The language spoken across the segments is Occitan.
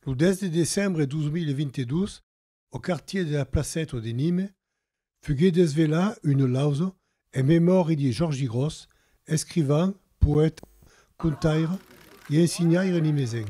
Lo 10 de decembre 2022, au quartier de la Placèto de Nîmes, fuguèt desvelaa una lausa en memòria de Jòrgi Gròs, escrivan, poèta, contaire e ensenhaire nimesenc.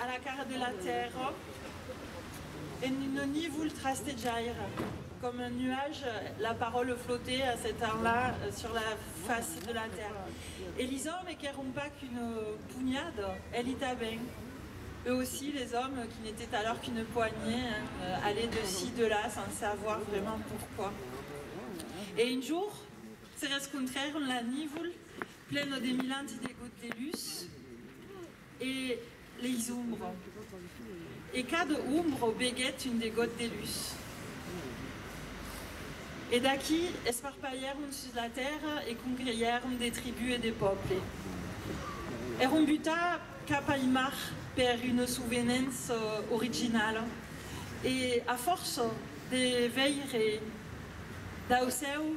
A la cara de la tèrra, e no n'i vul trastejaire. Com un nuage, la parole flotte a ce temps-là sur la face de la tèrra. E li òmes qu'èron pas qu'une punhada, e li tanben, eux aussi les òmes qui n'étaient alors qu'une poignée, allaient de ci, de là, sans savoir vraiment pourquoi. E un jour, se rescontrèron la nívol, plena de milanti de gottelus, E leis ombres. E cada ombra veguèt un degot de lus. E d'aquí esparpalhèron sus la tèrra e congreièron de tribú e de pòble. Èron butar cap al mar per una sovenença originala e, a fòrça de veire dau cèu,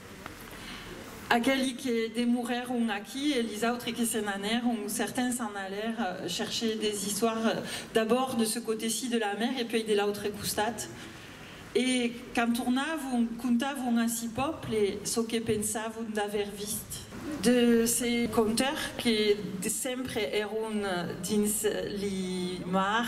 Aqueli que demorèron aquí e lis autres que se n'anèron, certains s'an alèr chercher des istoires d'abòrd de ce coteci de la mer e puèi de l'autre costat. E quand tornavon, contavon a si pòble çò que pensavon d'aver vist. De ce conteur que sempre èron dins li mar.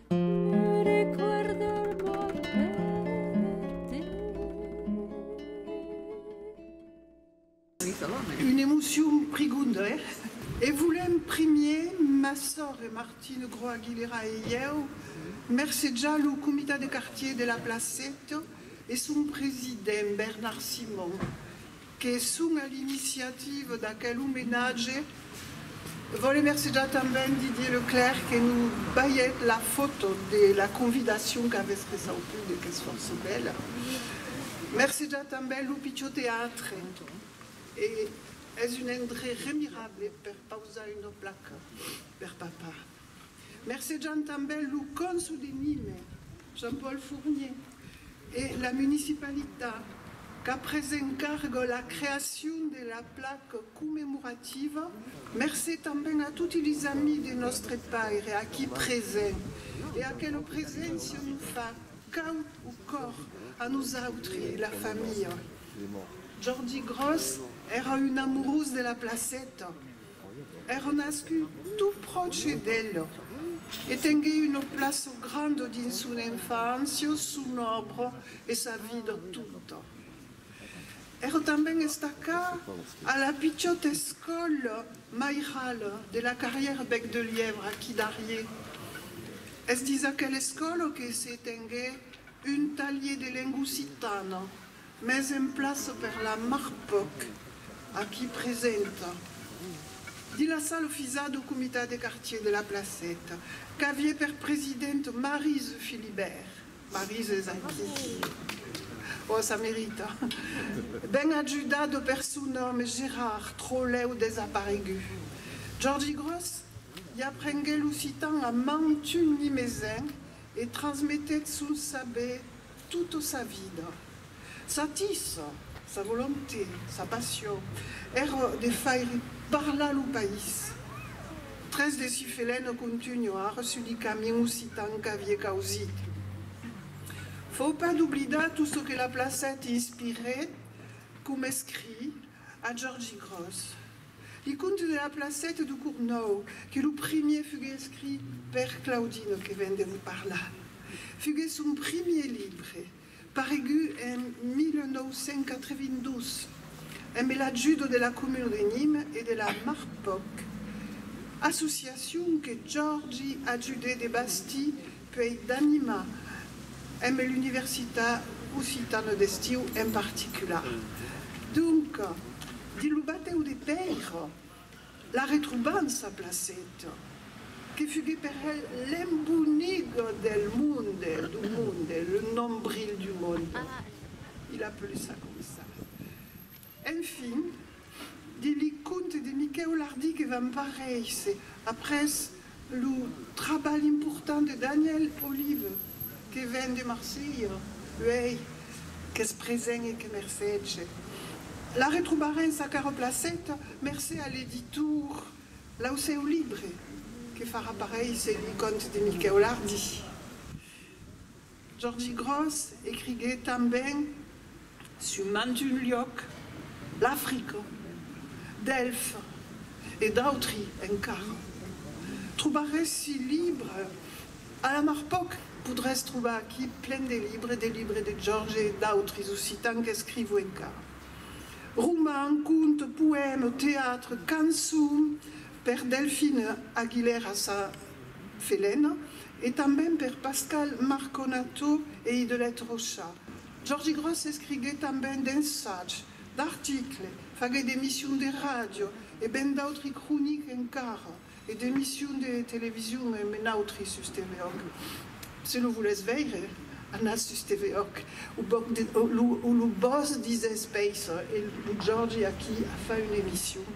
Une emocion prigonda, eh? E volèm primier, ma sòr e Martine Gro-Aguilera e ieu, mercejar lo Comitat de Quartier de la Placeta e son president, Bernard Simon, que son a l'iniciativa d'aquel omenatge. Vòle mercejar tanben Didier Leclerc que nos balhèt la fòto de la convidacion qu'avètz ressautude qu'es fòrça bèla. Mercejar tanben lo pichó teatre e es un endrech remirable per pausar una placa per papà. Mercejant tanben lo cònsol de Nîmes, Jean-Paul Fournier, e la municipalitat qu'a pres en carga la creacion de la placa commemorativa, mercé tanben a toti les amis de nòstre Paire aquí presents e aquela preséncia nos fa caud au còr a nosautri e la familha. Jordi Gròs èra un amorós de la placeta. Èra nascut tot pròche d'Èleu e tenguèt una plaça granda dins son enfància, son òbra e sa vida tota. Èra tanben estacada a la pichòta escòla mairala de la Carrière Bec de Lièvre aquí darrier. Es dins aquela escòla que se tenguèt un talhier de lengua occitana. Mes en plaço per la Marpoc, aquí presenta. Dins la sala ofisà dau Comitat de Quartier de la Placeta, qu'avié per president Marise Philibert, Marise es aquí, ò ça merita, ben ajudat dau personòme Gerard Trolèu desaparegut. Jordi Gròs i aprengué l'occitan a mantun nimesenc e transmetèt son saber Tota sa vida, sa tisa, sa volonté, sa passion, èra de faire parlar lo país. Tres de si felèns contunhar sus li camin occitan qu'avie causit. Fau pas d'oblidar tot çò que la placèt inspirèt, coma escrit, A Jorgi Gross li conte de la placèta de Cournòu que lo primier fugue escrit per Claudino que ven de vos parlar. Fugue son primier libre, paregut en 1982, embe l'ajudo de la comuna de Nîmes e de la Marpoc, associacion que Jorgi ajudè de bastir Qu'ei d'anima emb l'universitat occitana d'estiu en particular. Donc, dins lo batèu de Pèira, la retrobam sa placeta, que fuguèt per el l'embonic del monde, du monde, le nombril du monde. Il a plus à comme ça. Enfin, de li conte de Miquèu Lardi que vam paréisser après lo trabalh important de Daniel Olive que ven de Marselha, uèi qu'es present e que mercètge. La retrobarèn sa cara placeta mercé a l'editor Lau Seu Libre que farà paréisser li conte de Miquèu Lardi. Jordi Gròs ecriguèt tanben sus mantun luòc, l'Africa, Delphes e d'autri encara. Trobarèssi libre? A la mar pauc, podràs trobar aquí plen de libre, de libre de Jorge e d'autres occitans qu'escrivo encara. Roman, conte, poème, teatre, cançon per Delphine Aguilera-Saint-Felena E tanben per Pascal Marconato e Idelette Rocha. Jordi Gròs escriguèt tanben d'ensatge, d'article, faguèt d'emissions de ràdio e ben d'autri croniques encara, e d'emissions de television e me n'autri sus TV-òc. Se lo volètz veire, anatz sus TV-òc, o lo bòs disètz Pèisser e lo Jordi aquí a fach una emission.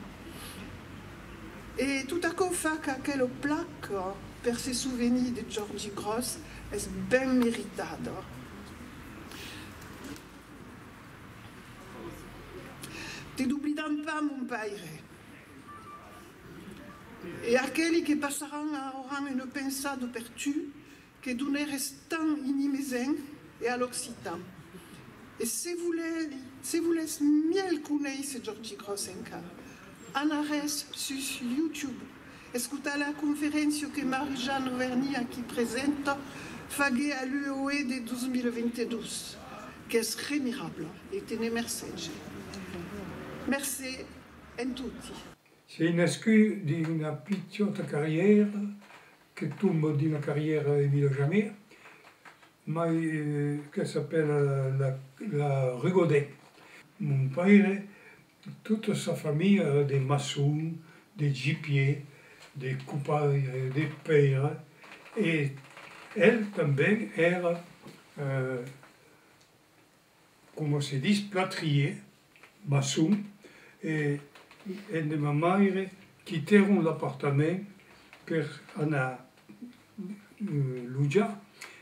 E tot aquò fa qu'aquela placa per se sovenir de Jordi Gròs es ben meritada. Te doblidam pas, mon paire. E aqueli que passaràn auran una pensada per tu Que doneres tan inimesenc e a l'occitan. E se volèli, se volètz mièlh conéisser Jordi Gròs enca, anaretz sus YouTube, escotar la conferéncia que Marie-Jeanne Auvergne, aquí presenta, fagué a l'UOE de 2022, qu'es remirabla e te ne mercege. Mercé en toti. Se i nascut dins una pichòta carrièra que tomba d'una carrièra e vila jamir, mai que s'apèla la rue Godin. Mon paire, tota sa familha èra de maçons, de gipiers, de copaires, de pèires, e el tanben èra. coma se dis plâtrier, maçon, e en de ma maire quitèron l'apartament per anar lojar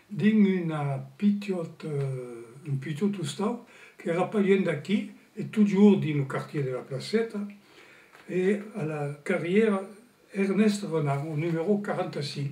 dins una pitot, un pitot ostau qu'èra pas luènh d'aquí e totjorn dins lo quartier de la Placeta e a la carrièra Ernest Renard, au numèro 45.